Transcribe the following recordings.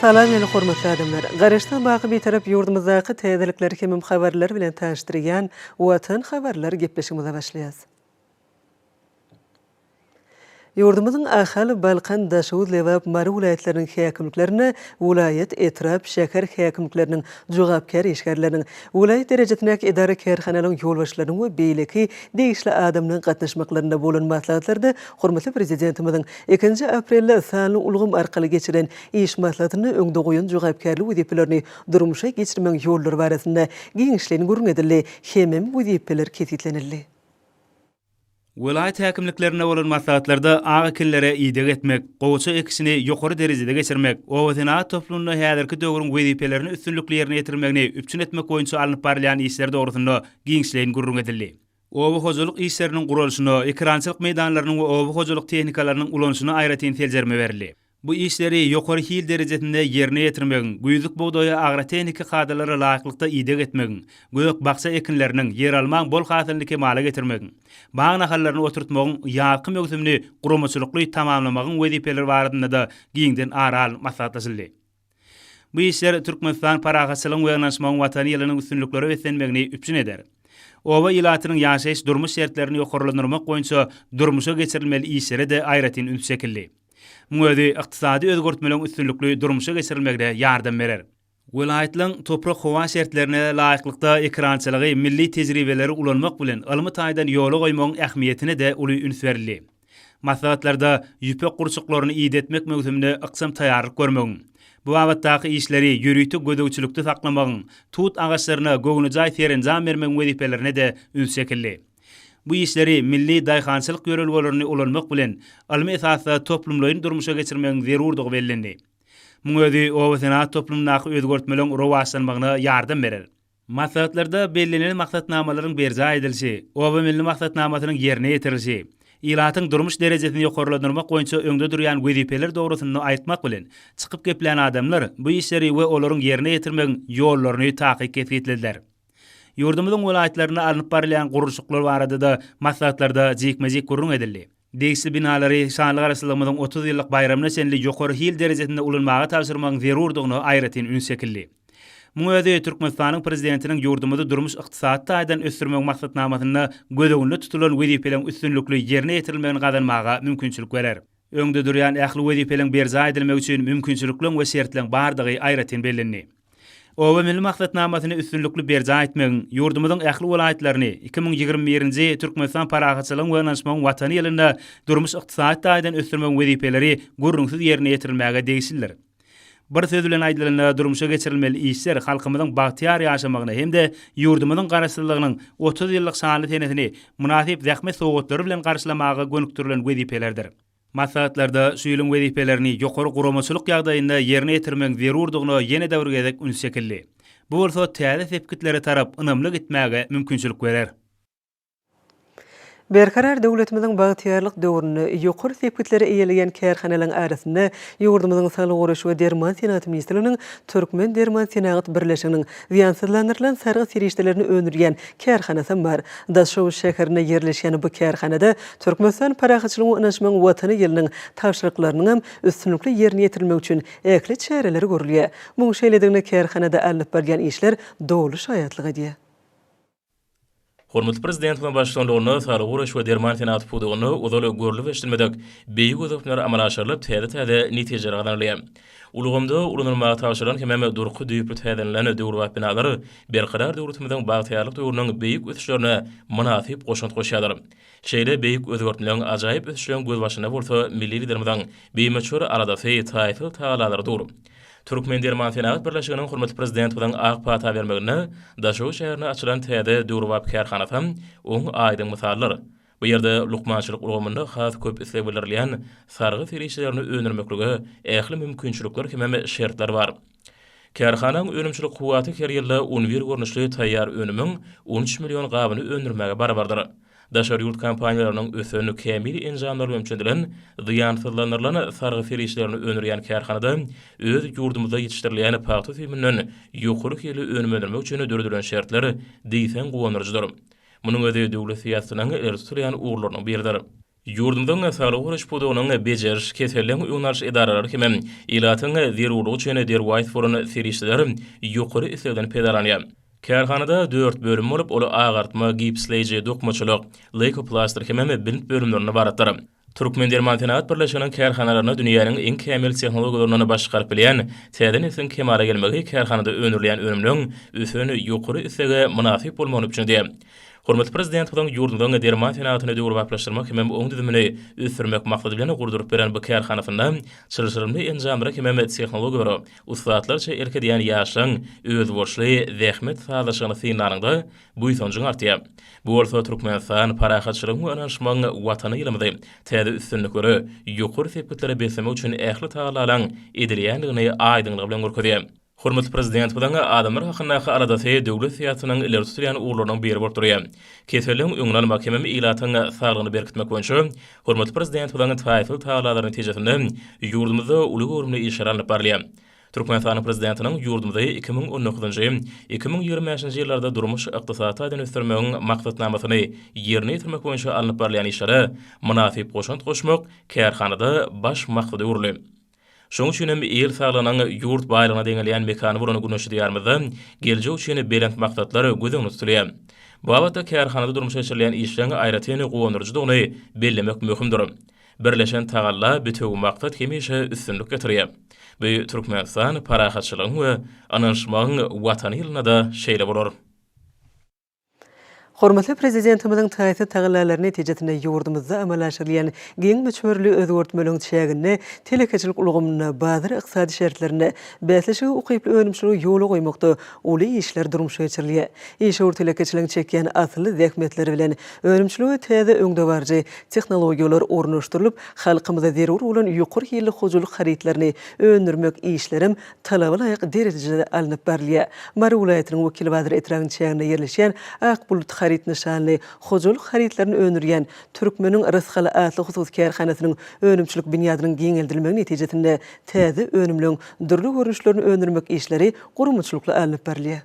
Salam meni hormatly adamlar! Garaşsyz baky Bitarap ýurdumyzdaky täzelikleri hemem habarlary bilen tanyşdyrýan Watan habarlar gepleşigimize başlaýas. Ýurdumyzyň Ahal, Balkan, Daşoguz, Lebap, Mary welaýatlarynyň häkimliklerine welaýat, etrap, şäher häkimlikleriniň jogapkär işgärleriniň, welaýat derejesindäki edara-kärhanalaryň ýolbaşçylarynyň we beýleki degişli adamlaryň gatnaşmaklarynda bolan maslahatlarda Hormatly Prezidentimiziň ikinji aprelde sanly ulgam arkaly geçiren iş maslahatynda öňde goýan jogapkärli wezipelerini durmuşa geçirmegiň ýollary barasynda giňişleýin gürrüň edildi hemem wezipeler kesgitlenildi. Welaýat häkimliklerinde bolan maslahatlarda ak ekinlere ideg etmek, gowaça ekişini ýokary derejede geçirmek, obasenagat toplumynda häzirki döwrüň wezipelerini üstünlikli ýerine ýetirmegini üpjün etmek boýunça alnyp barylýan işler dogrusynda giňişleýin gürrüň edildi. Oba hojalyk işleriniň guralyşyna, ekerançylyk meýdanlarynyň we oba hojalyk tehnikalarynyň ulanyşyna aýratyn seljerme berildi. Bu işleri ýokary hil derejesinde ýerine ýetirmegiň, güýzlük bugdaýa agrotehniki kadalara laýyklykda ideg etmegiň, gök-bakja ekinleriniň, ýeralmaň bol hasylyny kemala getirmegiň, bag nahallaryny oturtmagyň ýazky möwsümini guramaçylykly tamamlamagyň wezipeleri barasynda-da giňden ara alnyp maslahatlaşyldy. Bu işler Türkmenistan parahatçylygyň we ynanyşmagyň Watany ýylynyň üstünliklere beslenmegini üpjün eder. Oba ilatynyň ýaşaýyş-durmuş şertlerini ýokarlandyrmak boýunça durmuşa geçirilmeli işlere-de aýratyn üns çekildi. Muň özi ykdysady özgertmeleriň üstünlikli durmuşa geçirilmegine ýardam berer. Welaýatlaryň toprak-howa şertlerine laýyklykda ekerançylygy milli tejribeleri ulanmak bilen ylmy taýdan ýola goýmagyň ähmiýetine-de uly üns berildi. Maslahatlarda ýüpek gurçuklaryny idetmek möwsümine ykjam taýýarlyk görmegiň, bu babatdaky işleri ýörite gözegçilikde saklamagyň, tut agaçlaryna göwnejaý serenjam bermegiň wezipelerine-de üns çekildi. Bu işleri milli daýhançylyk ýörelgelerini ulanmak bilen, ylmy esasda toplumlaýyn durmuşa geçirmegiň zerurdygy bellendi. Muň özi obasenagat toplumyndaky özgertmeleriň rowaçlanmagyna ýardam berer. Maslahatlarda bellenilen maksatnamalaryň berjaý edilişi, Oba milli maksatnamasynyň ýerine ýetirilişi, ilatyň durmuş derejesini ýokarlandyrmak boýunça öňde durýan wezipeler dogrusynda aýtmak bilen, çykyp geplän adamlar bu işleri we olaryň ýerine ýetirmegiň ýollaryny takyk kesgitlediler. Ýurdumyzyň welaýatlarynda alnyp barylýan gurluşyklar barada-da maslahatlarda jikme-jik gürrüň edildi. Degişli binalary şanly Garaşsyzlygymyzyň otuz ýyllyk baýramyna çenli ýokary hil derejesinde ulanmaga tabşyrmagyň zerurdygyna aýratyn üns çekildi. Muň özi Türkmenistanyň Prezidentiniň ýurdumyzy durmuş-ykdysady taýdan ösdürmegiň maksatnamasynda göz öňünde tutulan wezipeleriň üstünlikli ýerine ýetirilmegini gazanmaga mümkinçilik berer. Öňde durýan ähli wezipeleriň berjaý edilmegi üçin mümkinçilikleň we şertleň bardygy aýratyn bellendi. Oba milli maksatnamasyny üstünlikli berjaý etmegiň, ýurdumyzyň ähli welaýatlaryny iki müň ýigrimi birinji Türkmenistan parahatçylygyň we ynanyşmagyň Watany ýylynda durmuş-ykdysady taýdan ösdürmegiň wezipeleri gürrüňsiz ýerine ýetirilmäge degişlidir. Bir söz bilen aýdylanda, durmuşa geçirilmeli işler halkymyzyň bagtyýar ýaşamagyna hem-de ýurdumyzyň Garaşsyzlygynyň otuz ýyllyk şanly senesini mynasyp zähmet sowgatlary bilen garşylamaga gönükdirilen wezipelerdir. Maslahatlarda şu ýylyň wezipelerini ýokary guramaçylyk ýagdaýynda ýerine ýetirmegiň zerurdygyna ýene-de bir gezek üns çekildi. Bu bolsa täze sepgitlere tarap ynamly gitmäge mümkinçilik berer. Berkarar döwletimiziň bagtyýarlyk döwründe ýokary sepgitleri eýeleýän kärhanalaryň arasynda ýurdumyzyň Saglygy goraýyş we derman senagaty ministrliginiň Türkmendermansenagat birleşiginiň, Zyýansyzlandyrylan sargyt serişdelerini öndürýän kärhanasam bar. Daşoguz şäherinde ýerleşýän bu kärhanada Türkmenistan parahatçylygyň we ynaşmagyň Watany ýylynyň tabşyryklarynyňam üstünlikli ýerine ýetirilmegi üçin ähli çäreler görülýär. Muň şeýledigine kärhanada alnyp barylýan işler doly şaýatlyk edýär. Hormatly Prezidentimiziň baştutanlygynda saglygy goraýyş we derman senagaty pudagynda ozal görlüp eşidilmedik beýik ösüşler amala aşyrylyp, täze-täze netijeler gazanylýar. Ulgamda ulanylmaga tabşyrylan hemem durky düýpli täzlenilen döwrebap binalar Berkarar döwletimiziň bagtyýarlyk döwrüniň beýik ösüşlerine mynasyp goşant goşýarlar. Şeýle beýik özgertmeň, ajaýyp ösüşiň gözbaşynda bolsa milli Liderimiziň bimöçber aladasy, taýsyz tagallalary dur. Türkmendermansenagat birleşiginiň hormatly Prezidentimiziň ak pata bermeginde Daşoguz şäherinde açylan täze döwrebap kärhanasam oň aýdyň mysaldyr. Bu ýerde lukmançylyk ulgamynda has köp isleg bildirilýän sargy serişdelerini öndürmeklige ähli mümkinçilikler hemem şertler bar. Kärhananyň önümçilik kuwwaty her ýylda un bir görnüşli taýýar önümiň on üç million gabyny öndürmäge barabardyr. Daşary ýurt kompaniýalarynyň ösen, kämil enjamlar bilen üçedilen, zyýansyzlandyrylan sargy serişdelerini öndürýän kärhanada öz ýurdumyzda ýetişdirilýän pagta süýüminden ýokary hilli önüm öndürmek üçin döredilen şertler diýseň guwandyryjydyr. Munuň özi döwlet syýasatynyň ileri tutulýan ugurlarynyň biridir. Ýurdumyzyň saglygy goraýyş pudagynyň bejeriş, keselden öň alyş edaralary hem ilatyň zerurlygy üçin derwaýys bolan serişdeler ýokary islegden peýdalanýar. Kärhanada dört bölüm bolup, ol agartma, gipsleýji, dokmaçylyk, leýkoplastyr hem-ä bint bölümlerinden ybaratdyr. Türkmendermansenagat birleşiginiň kärhanalaryna dünýäniň iň kämil tehnologiýalaryndan baş çykaryp bilýän täze nesliň kemala gelmegi kärhanada öndürilýän önümleriň ösen ýokary islege mynasyp bolmagyny üpjün edýär. Hormatly Prezidentimiziň ýurdumyzyň derman senagatyny döwrebaplaşdyrmak hemem oň düzümini ösdürmek maksady bilen gurduryp beren bu kärhanasynda çylşyrymly enjamlara hemem tehnologiýalara ussatlarça erk edýän ýaşlaryň özboluşly zähmet sazlaşygyny synlanyňda buýsanjyň artýar. Bu bolsa Türkmenistan, parahatçylygyň we ynanyşmagyň Watany ýylymyzy täze üstünliklere, ýokary sepgitlere beslemek üçin ähli tagallalaryň edilýändigini aýdyňlygy bilen görkezýär. Hormatly Prezidentimiziň adamlar hakyndaky aladasy döwlet syýasatynyň ileri tutulýan ugurlarynyň biri bolup durýar. Keselligiň öňüni almak hemem ilatyň saglygyny berkitmek boýunça hormatly Prezidentimiziň taýsyz tagallalary netijesinde ýurdumyzda uly göwrümli işler alnyp barylýar. Türkmenistanyň Prezidentiniň ýurdumyzy iki müň on dokuzynjy, iki müň ýigrimi bäşinji ýyllarda durmuş-ykdysady taýdan ösdürmegiň maksatnamasyny ýerine ýetirmek boýunça alnyp barylýan işlere mynasyp goşant goşmak kärhanada baş maksada öwrüldi. Şonuň üçin hem il saglygynyň ýurt baýlygyna deňelýän mekany bolan Güneşli Diýarymyzda geljek üçin belent maksatlar göz öňünde tutulýar. Bu babatda kärhanada durmuşa geçirilýän işleň aýratyn guwandyryjydygyny bellemek möhümdir. Birleşen tagalla, bitewi maksat hemişe üstünlik getirýär. Bu Türkmenistan parahatçylygyň we ynanyşmagyň Watany ýylynda-da şeýle bolar. Hormatly Prezidentimiziň taýsyz tagallalary netijesinde ýurdumyzda amala aşyrylýan giň möçberli özgertmeleriň çäginde telekeçilik ulgamynda bazar ykdysady şertlerinde bäsleşige ukyply önümçiligi ýola goýmakda uly işler durmuşa geçirilýär. Işewür telekeçiligiň çekýän asylly zähmetleri bilen önümçilige täze öňdebaryjy tehnologiýalar ornaşdyrylyp, halkymyza zerur bolan ýokary hilli hojalyk harytlaryny öndürmek işlerem talaba laýyk derejede alnyp barylýar. Mary welaýatynyň Wekilbazar etrabynyň çäginde ýerleşýän Ak bulut haryt nyşanly hojalyk harytlaryny öndürýän Türkmeniň rysgaly atly hususy kärhanasynyň önümçilik binýadynyň giňeldilmegi netijesinde täze önümleň dürli görnüşlerini öndürmek işleri guramaçylykly alnyp barylýar.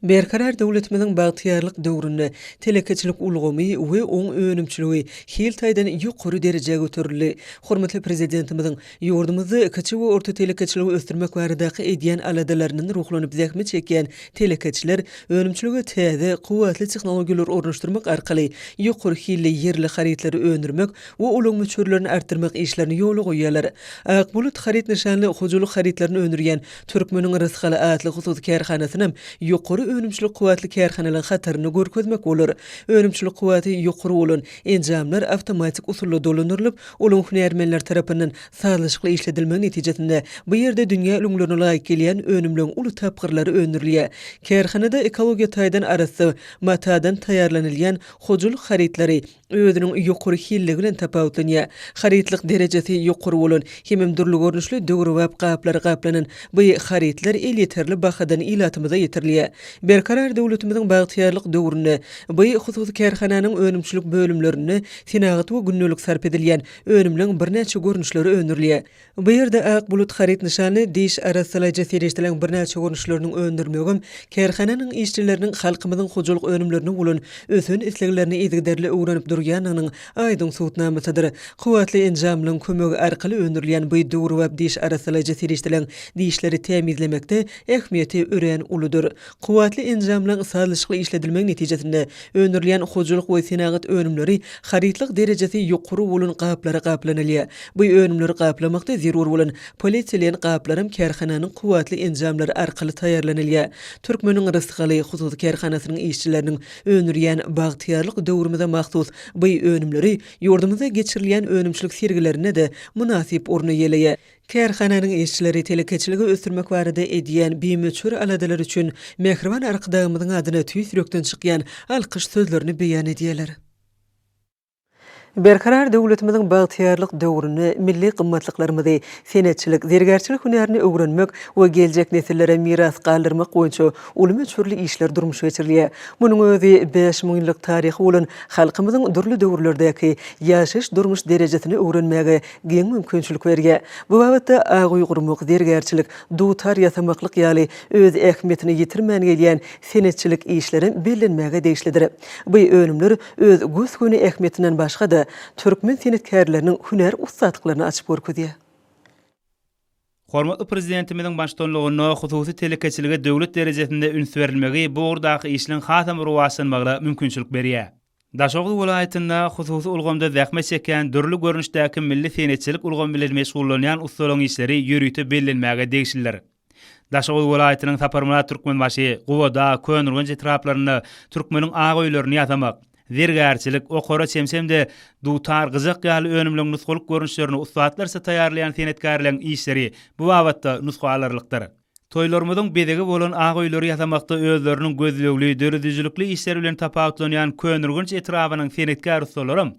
Berkarar döwletimiziň bagtyýarlyk döwründe telekeçilik ulgamy we oň önümçiligi hil taýdan ýokary derejä göterildi. Hormatly Prezidentimiziň ýurdumyzda kiçi we orta telekeçiligi ösdürmek baradaky edýän aladalaryndan ruhlanyp zähmet çekýän telekeçiler önümçilige täze, kuwwatly tehnologiýalary ornaşdyrmak arkaly ýokary hilli ýerli harytlary öndürmek we olaň möçberlerini artdyrmak işlerini ýola goýýarlar. Akbulut haryt nyşanly hojalyk harytlaryny öndürýän Türkmeniň rysgaly atly hususy kärhanasynam ýokary önümçilik kuwwatly kärhanalaryň hatarynda görkezmek bolar. Önümçilik kuwwaty ýokary bolan enjamlar awtomatik usulda dolandyrylyp, olaryň hünärmenler tarapyndan sazlaşykly işledilmegi netijesinde, bu ýerde dünýä ülňülerine laýyk gelýän önümleň uly tapgyrlary öndürilýär. Kärhanada ekologiýa taýdan arassa matadan taýýarlanylýan hojalyk harytlary, özüniň ýokary hilli bilen tapawutlanýar. Harytlyk derejesi ýokary bolan hemem dürli görnüşli döwrebap gaplar gaplanan bu harytlar elýeterli bahadan ilatymyza ýetirilýär. Berkarar döwletimiziň bagtyýarlyk döwründe bu hususy kärhananyň önümçilik bölümlerinde senagat we gündelik sarp edilýän önümleň birnäçe görnüşleri öndürilýär. Bu ýerde ak bulut haryt nyşanly diş arassalaýjy serişdeleriň birnäçe görnüşlerini öndürmegem, kärhananyň işçileriniň halkymyzyň hojalyk önümlerine bolan ösen isleglerini yzygiderli öwrenip durýandygynyň aýdyň subutnamasydyr. Kuwwatly enjamlaryň kömegi arkaly öndürilýän bu döwrebap diş arassalaýjy serişdeleriň dişleri tämizlemekde ähmiýeti örän uludyr. Kuwwatly enjamlaryň sazlaşykly işledilmegi netijesinde öndürilýän hojalyk we senagat önümleri harytlyk derejesi ýokary bolan gaplara gaplanylýar. Bu önümleri gaplamakda zerur bolan polietilen gaplaram kärhananyň kuwwatly enjamlary arkaly taýýarlanylýar. Türkmeniň rysgaly hususy kärhanasynyň işçileriniň öndürýän Bagtyýarlyk döwrümize mahsus bu önümleri ýurdumyzda geçirilýän önümçilik sergilerinde-de mynasyp orun eýeleýär. Kärhananyň işçileri telekeçiligi ösdürmek barada edýän bimöçber aladalary üçin mähriban Arkadagymyzyň adyna tüýs ýürekden çykýan alkyş sözlerini beýan edýärler. Berkarar döwletimiziň bagtyýarlyk döwründe milli gymmatlyklarymyzy, senetçilik, zergärçilik hünärini öwrenmek we geljek nesillere miras galdyrmak boýunça uly möçberli işler durmuşa geçirilýär. Munuň özi bäş müň ýyllyk taryhy bolan halkymyzyň dürli döwürlerdäki ýaşaýyş-durmuş derejesini öwrenmäge giň mümkinçilik berýär. Bu babatda aguý gurmak, zergärçilik, dutar ýasamaklyk ýaly öz ähmiýetini ýitirmän gelýän senetçilik işlerem bellenmäge degişlidir. By önümler öz gös-göni ähmiýetinden başga-da, türkmen senetkärleriniň hünär ussatlyklaryny açyp görkezýär. Hormatly Prezidentimiziň baştutanlygynda hususy telekeçilige döwlet derejesinde üns berilmegi bu ugurdaky işleň hasam rowaçlanmagyna mümkinçilik berýär. Daşoguz welaýatynda hususy ulgamda zähmet çekýän dürli görnüşdäki milli senetçilik ulgamy bilen meşgullanýan ussalaryň işleri ýörite bellenmäge degişlidir. Daşoguz welaýatynyň Saparmyrat Türkmenbaşy, Gubadag, Köneürgenç etraplarynda türkmeniň ak öýlerini ýasamak, Zergärçilik, okara çemçe hem-de dutar, gyjak ýaly önümleň nusgalyk görnüşlerini ussatlarça taýýarlaýan senetkärleň işleri bu babatda nusga alarlykdyr. Toýlarymyzyň bezegi bolan ak öýleri ýasamakda özleriniň gözlegli, döredijilikli işleri bilen tapawutlanýan Köneürgenç etrabynyň senetkär ussalaram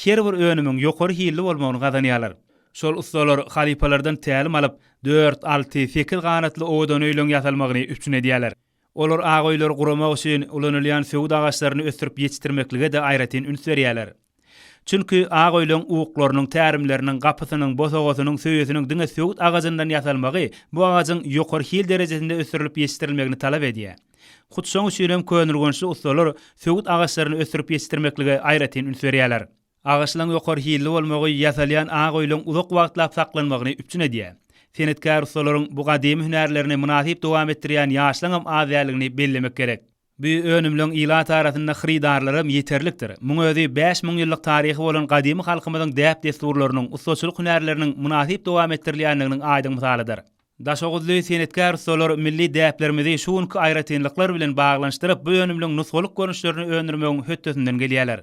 her bir önümiň ýokary hilli bolmagyny gazanýarlar. Şol ussalar halypalardan tälim alyp, dört, alty, sekiz ganatly owadan öýleň ýasalmagyny üpjün edýärler. Olar ak öýleri guramak üçin ulanylýan söwüt agaçlaryny ösdürip ýetişdirmeklige-de aýratyn üns berýärler. Çünki ak öýleň uklarynyň, tärimleriniň, gapysynyň, bosagasynyň, söýesiniň diňe söwüt agajyndan ýasalmagy bu agajyň ýokary hil derejesinde ösdürilip ýetişdirilmegini talap edýär. Hut şoň üçinem könürgençli ussalar söwüt agaçlaryny ösdürip ýetişdirmeklige aýratyn üns berýärler. Agaçlaryň ýokary hilli bolmagy ýasalýan ak öýleriň uzak wagtlap saklanmagyny üpjün edýär. Senetkär ussalaryň bu gadymy hünärlerini mynasyp dowam etdirýän ýaşlaryňam az däldigini bellemek gerek. Bu önümleň ilat arasynda hyrydarlaram ýeterlikdir. Muň özi bäş müň ýyllyk taryhy bolan gadymy halkymyzyň däp-dessurlarynyň, ussaçylyk hünärleriniň mynasyp dowam etdirilýändiginiň aýdyň mysalydyr. Daşoguzly senetkär ussalar milli däplerimizi şu günki aýratynlyklar bilen baglanyşdyryp, bu önümliň nusgalyk görnüşlerini öndürmegiň hötdesinden gelýärler.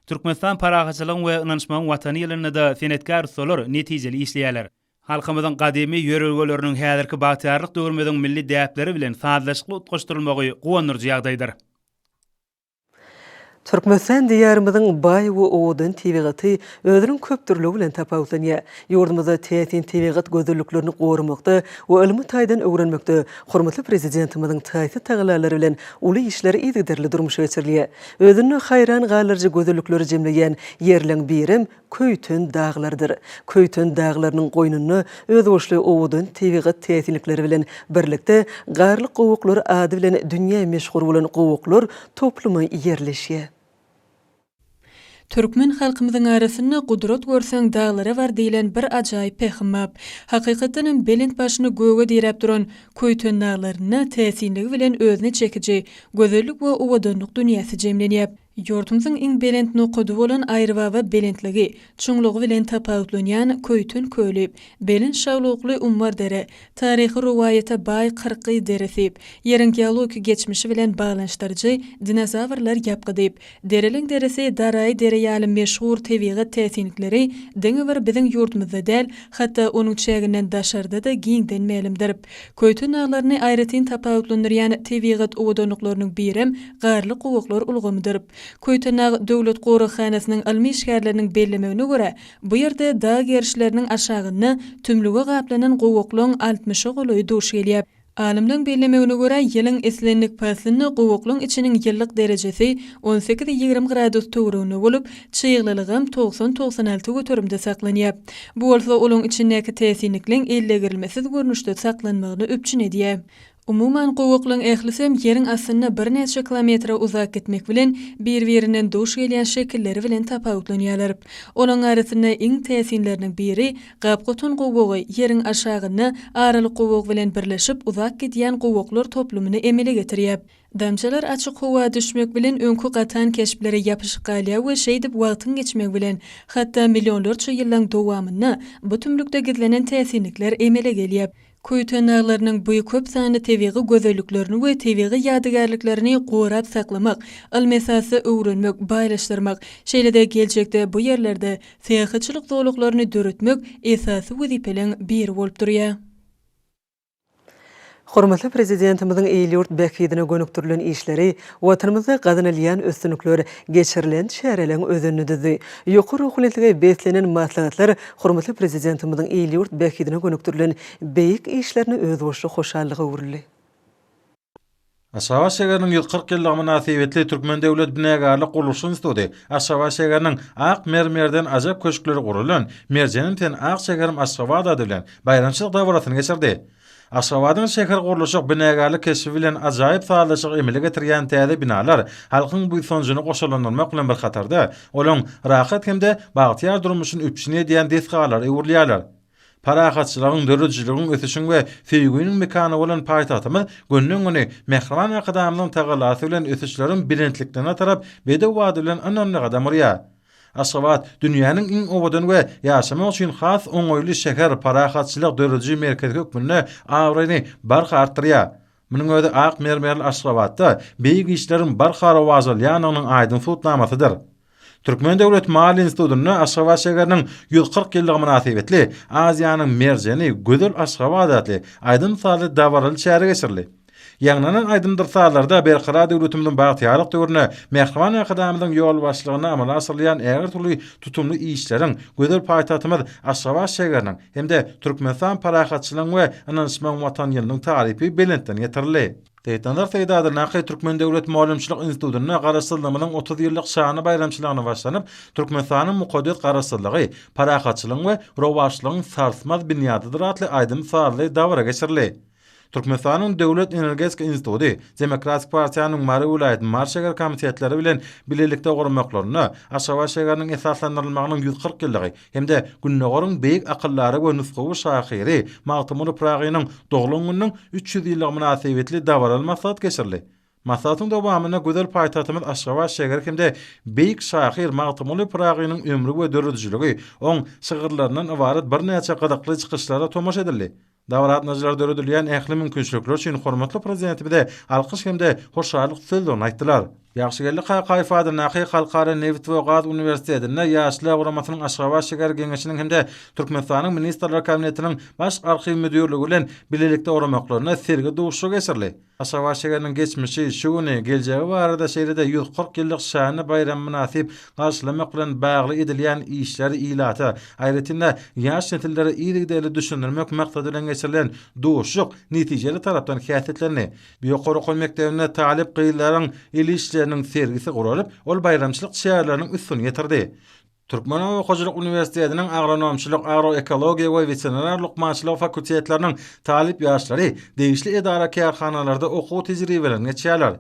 Türkmenistan Parahatçylygyň we ynanyşmagyň Watany ýylynda-da senetkär ussalar netijeli işleýärler. Halkymyzyň gadymy ýörelgeleriniň häzirki bagtyýarlyk döwrümiziň milli däpleri bilen sazlaşykly utgaşdyrylmagy guwandyryjy ýagdaýdyr. Türkmenistan Diýarymyzyň baý we owadan tebigaty özüniň köpdürlügi bilen tapawutlanýar. Ýurdumyzda täsin tebigat gözelliklerini goramakda we ylmy taýdan öwrenmekde hormatly Prezidentimiziň taýsyz tagallalary bilen uly işler yzygiderli durmuşa geçirilýär. Özünde haýran galdyryjy gözellikleri jemleýän ýerleň birem Köýten daglardyr. Köýten daglarynyň goýnunda özboluşly owadan tebigat täsinlikleri bilen birlikde Garly gowaklar ady bilen dünýä meşhur bolan gowaklar toplumy ýerleşýär. Türkmen halkymyzyň arasynda Gudrat görseň daglara bar diýlen bir ajaýyp pähim bap. Hakykatdan hem belent başyny göge diräp duran Köýten daglarynda täsinligi bilen özüne çekiji gözellik we owadanlyk dünýäsi jemlenýäp. Ýurdumyzyň iň belent nokady bolan Aýrybaba belentligi, çuňlugy bilen tapawutlanýan Köýten köli, belent şaglukly Ummar dere, taryhy rowaýata baý Kyrkgyz deresi, Ýeriň geologik geçmişi bilen baglanyşdyryjy Dinozawrlar ýapgydy, Dereleň deresi, Daraýy dere ýaly meşhur tebigat täsinlikleri diňe bir biziň ýurdumyzda däl, hatda onuň çäginden daşarda-da giňden mälimdir. Köýten daglaryny aýratyn tapawutlandyrýan tebigat owadanlyklarynyň birem Garly gowaklar ulgamydyr. Köýtendag döwlet goraghanasynyň ylmy işgärleriniň bellemegine görä, bu ýerde dag gerişleriniň aşagynda tümlüge gaplanan gowaklaň altmyşa golaýy duş gelýär. Alymlaryň bellemegine görä, ýylyň islendik paslynda gowaklaň içiniň ýyllyk derejesi on sekiz-ýigrimi gradus töwereginde bolup, çyglylygam togsan-togsan alty göterimde saklanýar. Bu bolsa olaň içindäki täsinlikleň ellegirilmesiz görnüşde saklanmagyny üpjün edýär. Umuman, gowaklaň ählisem ýeriň astynda birnäçe kilometre uzap gitmek bilen bir-birinden duş gelýän şekilleri bilen tapawutlanýarlar. Olaň arasynda iň täsinleriniň biri Gapgotan gowagy ýeriň aşagynda aralyk gowag bilen birleşip uzap gidýän gowaklar toplumyny emele getirýär. Damjalar açyk howa düşmek bilen öňki gatan keşplere ýapyşyp galýar we şeýdip wagtyň geçmegi bilen, hatda millionlarça ýyllaň dowamynda bu tümlükde gizlenen täsinlikler emele gelýär. Köýten daglarynyň bu köp sanly tebigy gözelliklerini we tebigy ýadygärliklerini gorap saklamak, ylmy esasda öwrenmek, baýlaşdyrmak, şeýle-de geljekde bu ýerlerde syýahatçylyk zolaklaryny döretmek esasy wezipeleň biri bolup durýar. Hormatly Prezidentimiziň il-ýurt bähbidine gönükdirilen işleri, Watanymyzda gazanylýan üstünlikler, geçirilen çäreleriň özenini düzdi. Ýokary ruhubelentlige beslenen maslahatlar hormatly Prezidentimiziň il-ýurt bähbidine gönükdirilen beýik işlerine özboluşly hoşallyga öwrüldi. Aşgabat şägeriniň ýüz kyrk ýyllygy mynasybetli Türkmen döwlet binägärlik gurluşyk instituty Aşgabat şägeriniň ak mermerden ajap köşkleri gurulan Merjenim sen ak şäherim Aşgabat ady bilen baýramçylyk dabarasyny geçirdi. Aşgabadyň şäher gurluşyk, binägärlik keşbi bilen ajaýyp sazlaşygy emele getirýän täze binalar halkyň buýsanjyny goşalandyrmak bilen bir hatarda, olaň rahat hem-de bagtyýar durmuşyny üpjün edýän desgalara öwrülýärler. Parahatçylygyň, döredijiligiň, ösüşiň we söýgüniň mekany bolan paýtagtymyz günden-güne Mähriban Arkadagymyzyň tagallasy bilen ösüşleriň belentliklerine tarap bedew bady bilen ynamly gadam urýar. Aşgabat, dünýäniň iň owadan we ýaşamak üçin has oňaýly şäher, parahatçylyk dörediji merkezi hökmünde abraýyny barha artdyrýar. Munuň özi ak mermerli Aşgabatda beýik işleriň barha rowajalýandygynyň aýdyň subutnamasydyr. Türkmen döwlet maliýe institutynda Aşgabat şägeriniň ýüz kyrk ýyllygy mynasybetli Aziýanyň merjeni, gözel Aşgabat atly aýdym-sazly dabaraly çäre geçirildi. Ýaňlanan aýdym-dyr-sazlarda Berkarar döwletimiziň bagtyýarlyk döwründe Mähriban Arkadagymyzyň ýolbaşçylygynda amala aşyrylýan ägirt uly tutumly işleriň, gözel paýtagtymyz Aşgabat şägeriniň, hem-de Türkmenistan parahatçylygyň we ynanyşmagyň Watany ýylynyň tarypy belentden getirildi. Seýitnazar Seýdadyrnaky Türkmen döwlet mugallymçylyk institutynda Garaşsyzlygymyzyň otuz ýyllyk şanly baýramçylygyna başlanyp, Türkmenistanyň mukaddes Garaşsyzlygy, parahatçylygyň we rowaçlygyň sarsmaz binýadydyr atly aýdym-sazly dabara geçirildi. Türkmenistanyň Döwlet energetika instituty Demokratik partiýanyň Mary welaýatynyň Mary şäher komitetleri bilen bilelikde gurmaklarynda Aşgabat şäheriniň esaslandyrylmagynyň ýüz kyrk ýyllygy hem-de Gündogaryň beýik akyldary we nusgawy şahyry Magtymguly Pyragynyň doglan gününiň üç ýüz ýyllygy mynasybetli dabaraly maslahat geçirildi. Maslahatyň dowamynda gözel paýtagtymyz Aşgabat şäheri hem-de beýik şahyr Magtymguly Pyragynyň ömri we döredijiligi, oň şygyrlaryndan ybarat birnäçe gyzykly çykyşlara tomaşa edildi. Dabaraatnajylar döredilýän ähli mümkinçilikler üçin hormatly Prezidentimize alkyş hem-de hoşallyk sözlerini aýtdylar. Ýagşygeldi Kakaýew adyndaky Halkara nebit we gaz uniwersitetinde Ýaşlar guramasynyň Aşgabat şäher geňeşiniň hem-de Türkmenistanyň Ministrler Kabinetiniň Baş arhiw müdirligi bilen bilelikde guramaklarynda sergi duşuşygy geçirildi. Aşgabat şäheriniň geçmişi, şu güni, geljegi barada şeýle-de ýüz kyrk ýyllyk şanly baýramy mynasyp garşylamak bilen bagly edilýän işleri ilata, aýratyn-da, ýaş nesillere yzygiderli düşündirmek maksady bilen geçirilen duşuşyk netijeli tarapdan häsiýetlendi. Ýokary okuw mekdebinde talyp gyzlaryň el işleriniň sergisi guralyp, ol baýramçylyk çäreleriniň üstüni ýetirdi. Türkmenoba okaýjylyk uniwersitetiniň agronomçylyk, agroekologiýa we weterinar lukmançylygy fakultetleriniň talyp ýaşlary degişli edara-kärhanalarda okuw tejribelerini geçýärler.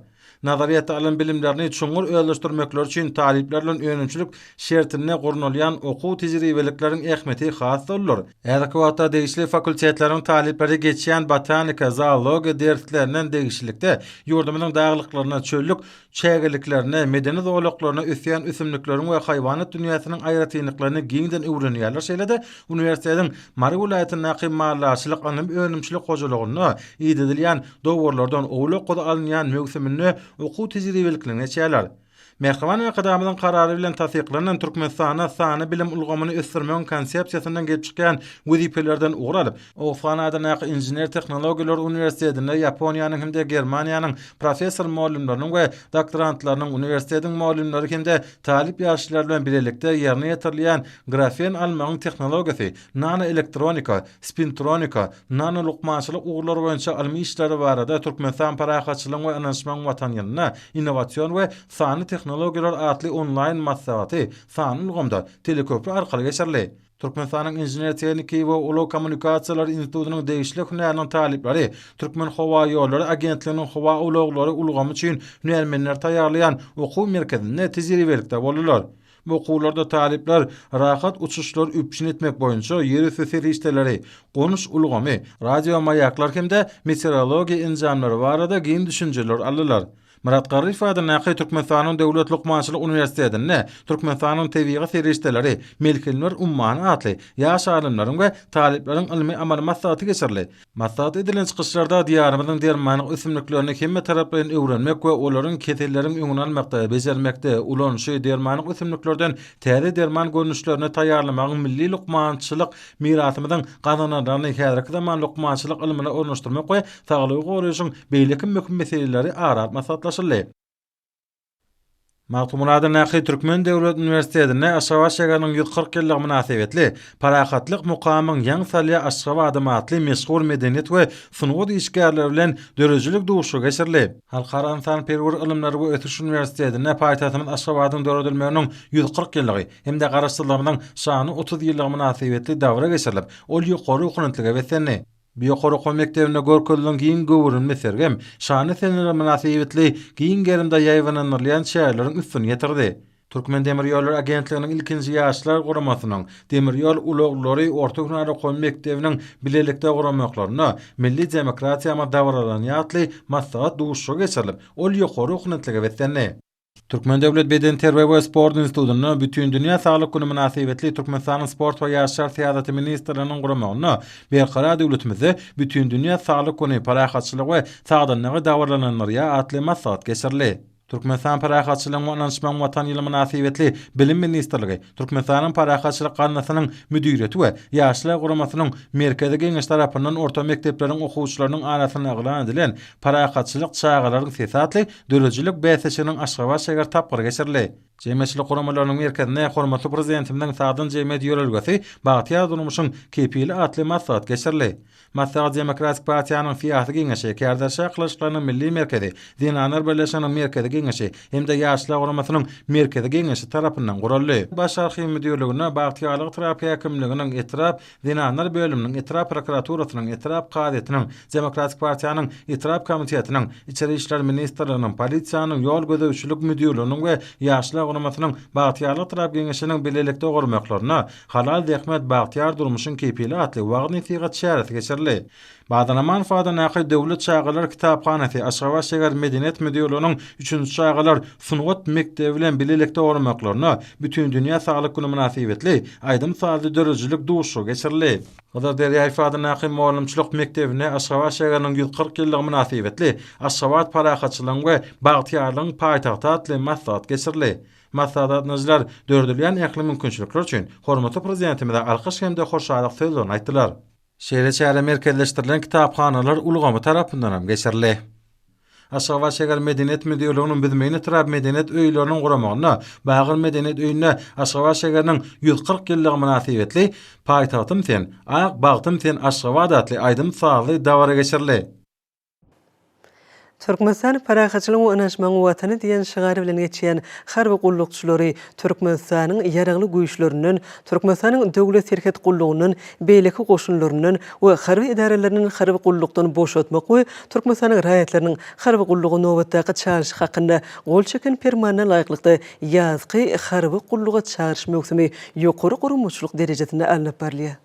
Nazaryýetde alan bilimlerini çuňňur özleşdirmekleri üçin talyplar bilen önümçilik şertinde gurnalýan okuw-tejribelikleriň ähmiýeti has-da uludyr. Häzirki wagtda degişli fakultetleriň talyplary geçýän botanika, zoologiýa derslerinden degişlilikde ýurdumyzyň daglyklarynda çöllük çägeliklerine, medeni zolaklaryna ösýän ösümlikleriň we haýwanat dünýäsiniň aýratynlyklaryny giňden öwrenýärler, şeýle-de uniwersitetiň Mary welaýatyndaky maldarçylyk ylmy önümçilik hojalygynda idedilýän dowarlardan owlak guzy alynýan möwsüminde okuw tejribeliklerini geçýärler. Mähriban Arkadagymyzyň Karary bilen tassyklanan Türkmenistanda sanly bilim ulgamyny ösdürmegiň Konsepsiýasyndan gelip çykýan wezipelerden ugur alyp, Ofan adyndaky Inžener-tehnologiýalar uniwersitetinde Ýaponiýanyň hem-de Germaniýanyň professor-mugallymlarynyň we doktorantlarynyň, uniwersitetiň mugallymlary hem-de talyp ýaşlar bilen bilelikde ýerine ýetirilýän grafen almagyň tehnologiýasy, nanoelektronika, spintronika, nanolukmançylyk ugurlary boýunça ylmy işleri barada Türkmenistan parahatçylygyň we ynanyşmagyň Watany ýylynda innowasion we sanly tehnologiýalar atly onlaýn maslahaty sanly ulgamda, teleköpri arkaly geçirildi. Türkmenistanyň Inžener-tehniki we ulag kommunikasiýalary institutynyň degişli hünäriniň talyplary Türkmenhowaýollary agentliginiň howa ulaglary ulgamy üçin hünärmenleri taýýarlaýan okuw merkezinde tejribelikde boldular. Bu okuwlarda talyplar rahat uçuşlary üpjün etmek boýunça ýerüsti serişdeleri, gonuş ulgamy, radiomaýaklar hem-de meteorologiýa enjamlary barada giň düşünjeler aldylar. Myrat Garryýew adyndaky Türkmenistanyň Döwlet lukmançylyk uniwersitetinde Türkmenistanyň tebigy serişdeleri, melhemler ummany atly ýaş alymlaryň we talyplaryň ylmy-amaly maslahaty geçirildi. Maslahat edilen çykyşlarda Diýarymyzyň dermanlyk ösümliklerini hemmetaraplaýyn öwrenmek we olaryň keselleriň öňüni almakda, bejermekde, ulanyşy, dermanlyk ösümliklerden täze derman görnüşlerini taýýarlamagyň milli lukmançylyk mirasymyzyň gazananlaryny häzirki zaman lukmançylyk ylmyna ornaşdyrmak we Saglygy goraýşyň beýleki möhüm meseleleri ara alyp maslahatlaşyldy. Magtymguladyn Nakyý Türkmen döwlet uniwersitetinde Aşgabat şäheriniň ýüz kyrk ýyllygy mynasybetli Parahatlyk mukamyň ýaň salýar Aşgabadym atly meşhur medeniýet we sungat işgärleri bilen döredijilik duşuşygy geçirildi. Halkara ynsanperwer ylymlar we ösüş uniwersitetinde paýtagtymyz Aşgabadyň döredilmeginiň ýüz kyrk ýyllygy hem-de Garaşsyzlygymyzyň şanly otuz ýyllygy mynasybetli dabra geçirilip, ol ýokary okunutlyga beslendi. Bu ýokary okuw mekdebinde görkezilen giň göwrümli sergem şanly seneler mynasybetli giň gerimde ýaýbaňlandyrylýan çäreleriň üstüni ýetirdi. Türkmendemirýollary agentliginiň ilkinji ýaşlar guramasynyň, Demir ýol ulaglary orta hünär okuw mekdebiniň bilelikde guramaklarynda Milli demokratiýamyz dabaralanýar atly maslahat duşuşygy geçirilip, ol ýokary ruhunetlige beslendi. Türkmen döwlet bedenterbiýe we sport institutynda Bütindünýä saglyk güni mynasybetli Türkmenistanyň Sport we ýaşlar syýasaty ministrliginiň guramagynda Berkarar döwletimizde Bütindünýä saglyk güni, parahatçylygy we sagdynlygy dabaralandyrýar atly maslahat geçirildi. Türkmenistan Parahatçylygyň we ynanyşmagyň Watany ýyly mynasybetli Bilim ministrligi, Türkmenistanyň Parahatçylyk gaznasynyň müdiriýeti we Ýaşlar guramasynyň Merkezi geňeşi tarapyndan orta mekdepleriň okuwçylarynyň arasynda yglan edilen Parahatçylyk çagalaryň sesi atly döredijilik bäsleşiginiň Aşgabat şäher tapgyry geçirildi. Jemgyýetçilik guramalarynyň merkezinde hormatly Prezidentimiziň Sagdyn jemgyýet ýörelgesi, bagtyýar durmuşyň kepili atly maslahat geçirildi. Maslahat Demokratik partiýanyň syýasy geňeşi, Kärderşa yhlashlarynyň milli merkezi, Zenanlar birleşiginiň merkezi geňeşi hem-de Ýaşlar guramasynyň merkezi geňeşi tarapyndan guraldy. Baş arhiw müdirligine Bagtyýarlyk etrap häkimliginiň etrap Zenanlar bölüminiň, etrap prokuraturasynyň, etrap kazyýetiniň, Demokratik partiýanyň etrap komitetiniň, Içeri işler ministrliginiň, polisiýanyň, ýol gözegçilik müdirliginiň we Ýaşlar guramasynyň Bagtyýarlyk etrap geňeşiniň bilelikde gurmaklaryna, Halal zähmet, bagtyýar durmuşyň kepili atly wagyz-nesihat çäresi geçirildi. Badanamanov adyndaky Döwlet çagalar kitaphanasy, Aşgabat şäher Medeniýet müdirliginiň üçünji çagalar sungat mekdebi bilen bilelikde guramaklaryna Bütindünýä saglyk güni mynasybetli aýdym-sazly döredijilik duşuşygy geçirildi. Hydyr Derýaýew adyndaky mugallymçylyk mekdebinde Aşgabat şäheriniň ýüz kyrk ýyllygy mynasybetli Aşgabat parahatçylygyň we bagtyýarlygyň paýtagty atly maslahat geçirildi. Maslahatdaşlar döredilýän ähli mümkinçilikler üçin hormatly Prezidentimize alkyş hem-de hoşallyk sözlerini aýtdylar. Şeýle çäre merkezleşdirilen kitaphanalar ulgamy tarapyndan hem geçirildi. Aşgabat şäher Medeniýet müdirliginiň Büzmeýin etrap medeniýet öýleriniň guramagynda Bagyr medeniýet öýünde Aşgabat şäheriniň ýüz kyrk ýyllygy mynasybetli Paýtagtym sen, ak bagtym sen Aşgabat atly aýdym-sazly dabara geçirildi. Türkmenistan parahatçylygyň we ynanyşmagyň watany diýen şygar bilen geçýän harby gullukçylary Türkmenistanyň Ýaragly Güýçlerinden, Türkmenistanyň Döwlet serhet gullugyndan, beýleki goşunlaryndan we harby edaralaryndan harby gullukdan boşatmak we Türkmenistanyň raýatlarynyň harby gulluga nobatdaky çagyryşy hakynda gol çeken Permanyna laýyklykda ýazky harby gulluga çagyryş möwsümi ýokary guramaçylyk derejesinde alnyp barylýar.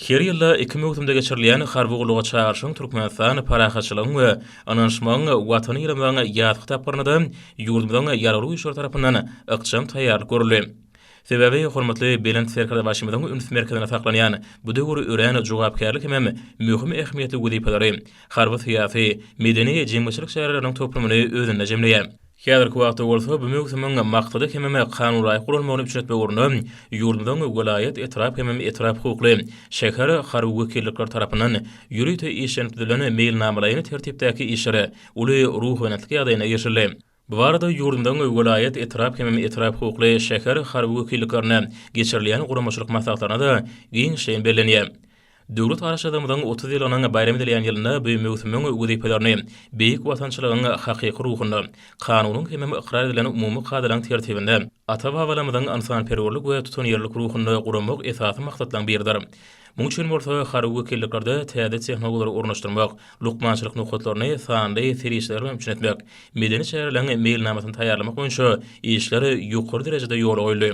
Her ýylda iki möwsümde geçirilýän harby gulluga çagyryşyň Türkmenistan Parahatçylygyň we ynanyşmagyň Watany ýylymyň ýazky tapgyrynada ýurdumyzyň Ýaragly Güýçleri tarapyndan ykjam taýýarlyk görüldi. Sebäbi hormatly Belent Serkerdebaşymyzyň üns merkezinde saklanýan bu döwür örän jogapkärli hemem möhüm ähmiýetli wezipeleri, harby-syýasy, medeni, jemgyýetçilik çäreleriniň toplumyny özünde jemleýär. Häzirki wagtda bolsa bu möwsümiň maksady hemem kanunlaýyk guralmagyny üpjün etmek ugrunda ýurdumyzyň welaýat, etrap hemem etrap hukukly, şäher harby wekillikleri tarapyndan ýörite işlenip düzülen meýilnamalaýyn tertipdäki işlere uly ruhubelentlik ýagdaýynda geçildi. Bu barada ýurdumyzyň welaýat, etrap hemem etrap hukukly, şäher harby wekilliklerinde geçirilýän guramaçylyk maslahatlarynda-da giňişleýin bellenýär. Döwlet Garaşsyzlygymyzyň otuz ýyllygynyň baýram edilýän ýylynda bu möwsümiň wezipelerini beýik watançylygyň hakyky ruhunda, kanunyň hemem ykrar edilen umumy kadalaryň tertibinde, ata-babalarymyzyň ynsanperwerlik we tutanýerlilik ruhunda guramak esasy maksatlaryň biridir. Muň üçin bolsa harby wekilliklerde täze tehnologiýalary ornaşdyrmak, lukmançylyk nokatlaryny sanly serişdeler bilen üpjün etmek, medeni çäreleriň meýilnamasyny taýýarlamak boýunça işler ýokary derejede ýola goýuldy.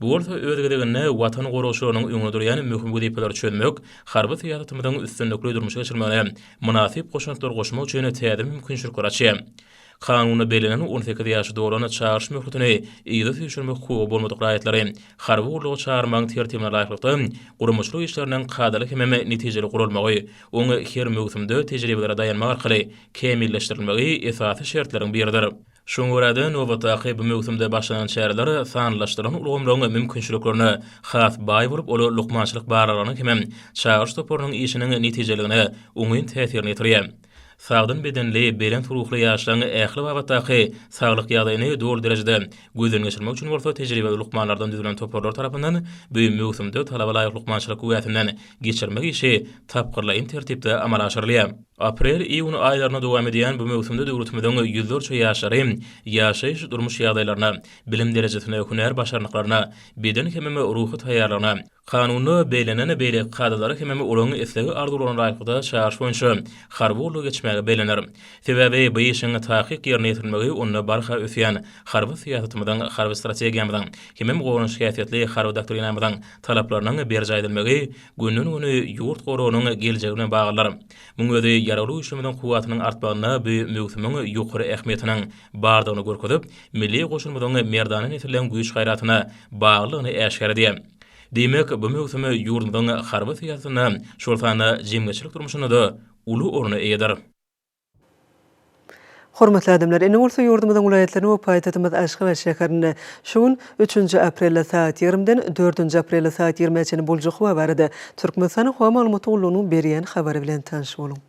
Bu bolsa öz gezeginde Watan goragçylarynyň öňünde durýan möhüm wezipeleri çözmek, harby syýasatymyzyň üstünlikli durmuşa geçirilmegine mynasyp goşantlary goşmak üçin täze mümkinçilikleri açýar. Kanunda bellenen on sekiz ýaşy dolan çagyryş möhletini yza süýşürmek hukugy bolmadyk raýatlary harby gulluga çagyrmagyň tertibine laýyklykda guramaçylyk işleriniň kadaly hemem netijeli guralmagy, oň her möwsümde tejribelere daýanmak arkaly kämilleşdirilmegi esasy şertleriň biridir. Şoňa görä-de, nobatdaky bu möwsümde başlanan çäreler sanlylaşdyrylan ulgamlaryň mümkinçiliklerine has baý bolup, ol lukmançylyk barlaglarynyň hemem çagyryş toparynyň işiniň netijeliligine oňyn täsirini ýetirýär. Sagdyn bedenli, belent ruhly ýaşlaryň ähli babatdaky saglyk ýagdaýyny doly derejede gözden geçirmek üçin bolsa tejribeli lukmanlardan düzülen toparlar tarapyndan bu möwsümde talaba laýyk lukmançylyk güwäsinden geçirmek işi tapgyrlaýyn tertipde amala aşyrylýar. Aprel-iýun aýlaryna dowam edýän bu möwsümde döwletimiziň ýüzlerçe ýaşlary ýaşaýyş-durmuş ýagdaýlaryna, bilim derejesine, hünär başarnyklaryna, beden hemem ruhy taýýarlygyna, kanunda bellenen beýleki kadalara hemem olaryň islegi-arzuwlaryna laýyklykda çagyryş boýunça harby gullugy geçmäge bellener. Sebäbi bu işiň takyk ýerine ýetirilmegi onda barha ösýän harby syýasatymyzyň, harby strategiýamyzyň hemem goranyş häsiýetli harby doktrinamyzyň talaplarynyň berjaý edilmegi Günden-güni ýurt goragynyň geljegi bilen baglydyr. Muň özi Ýaragly Güýçlerimiziň kuwwatynyň artmagynda bu möwsümiň ýokary ähmiýetiniň bardygyny görkezip, milli goşunymyzyň merdana nesilleň güýç-gaýratyna baglydygyny äşgär edýär. Diýmek, bu möwsüm ýurdumyzyň harby syýasatynda, şol sanda jemgyýetçilik durmuşynda-da uly orna eýedir. Hormatly adamlar, indi bolsa ýurdumyzyň welaýatlaryny we paýtagtymyz Aşgabat şäherinde şu gün, üçünji aprelde sagat ýigrimiden dördünji aprelde sagat ýigrimä çenli boljak howa barada Türkmenistanyň Howa maglumaty gullugynyň berýän habary bilen tanyş boluň.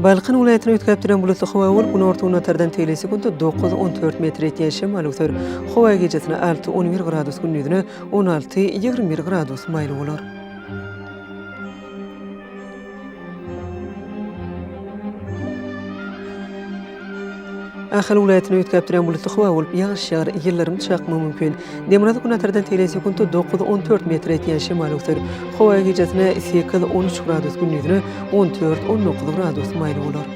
Balkan welaýatyny üýtgäp duran bulutly howa bolup, günorta-günbatardan tel sekundy dokuz, on dört metr ýetýän şemal öser. Howa gijesi alty, on bir gradus, gündizine on alty, ýigrimi bir gradus maýyl bolar. Ahal welaýatyny üýtgäp durýan bulutly howa bolup, ýagyş ýagar, ýyldyrym çakmagy mümkin. Demirgazyk günortadan seleý sekuntda dokuz-on dört metr etýän şemal öwser. Howa gijasine sekiz-on üç gradus, gündizine on dört-on dokuz gradus maýyl bolar.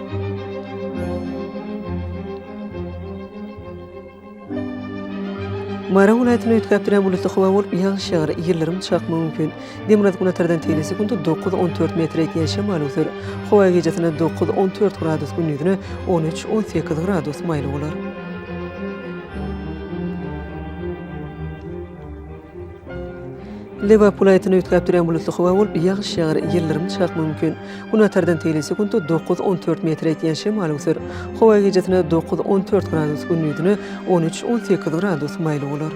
Mary welaýatyny üýtgäp durýan bulutly howa bolup, ýagyş ýagar, ýyldyrym çakmagy mümkin. Demirgazyk günortadan teýze sekunta dokuz-on dört metre ýetýän şemal öwser. Howa gijasynda dokuz-on dört gradus, gündizine on üç-on sekiz gradus maýly bolar. Lebap welaýatyny üýtgäp durýan bulutly howa bolup, ýagyş ýagar, ýyldyrym çakmak mümkin. Gün atardan teýli sekuntda dokuz-on dört metre ýetýän şemal öwser. Howa gijesine dokuz-on dört gradus, gündizine on üç-on sekiz gradus maýyl bolar.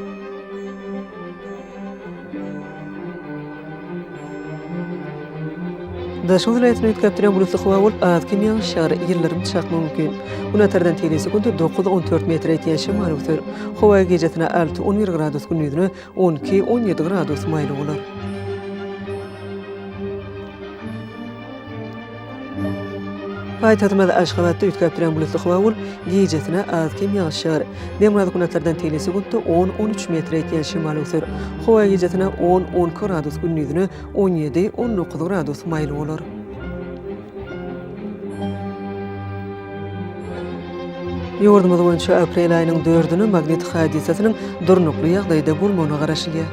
Daşoguz welaýatyny üýtgäp duran bulutly howa bolup, az kem ýagyşar, ýyldyrym çakmagy mümkin. Gün atardan tebigy sekunt dokuz-on dört metr ýetýän şemal öser. Howa gijesine alty-on bir gradus, gündizine on iki-on ýedi gradus maýyl bolar. Paýtagtymyz Aşgabatda üýtgäpdirän bulutly howa bolup, gijesine az-kem ýagyş ýagar. Demirgazyk-günortadan tegelesi gündä on-on üç metr ýetýän şemal öwser. Howa gijesine on-on iki gradus, gündizine on ýedi-on dokuz gradus maýyl bolar. Ýurdumyz boýunça aprel aýynyň dördüni magnit hadysasynyň durnukly ýagdaýda bolmagyna garaşylýar.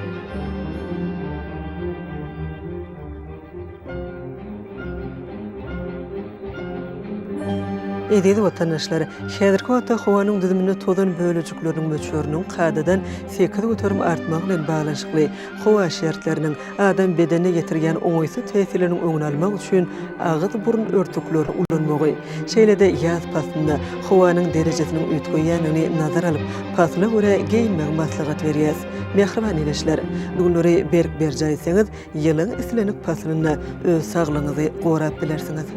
Eziz watandaşlar! Häzirki wagtda howanyň düzüminde tozan bölejikleriniň möçberiniň kadadan sekiz göterim artmagy bilen baglanyşykly, howa şertleriniň adam bedenine ýetirýän oňaýsyz täsirleriniň öňüni almak üçin agyz-burun örtüklerini ulanmagy, şeýle-de ýaz paslynda howanyň derejesiniň üýtgeýändigini nazara alyp, pasla görä geýinmegi maslahat berýäs. Mähriban ildeşler! Bu günleri berk berjaý etseňiz, Ýylyň islendik paslynda öz saglygyňyzy gorap bilersiňiz.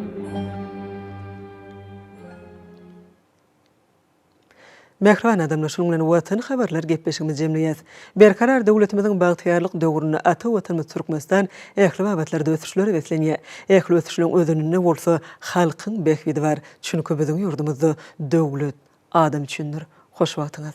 Mähriban adamlar, şunuň bilen Watan habarlar gepleşigimizi jemleýäs. Berkarar döwletimiziň bagtyýarlyk döwründe ata Watanymyz Türkmenistan ähli babatlarda ösüşlere beslenýär. Ähli ösüşleriň özeninde bolsa halkyň bähbidi bar. Çünki biziň ýurdumyzda döwlet adam üçindir. Hoş wagtyňyz.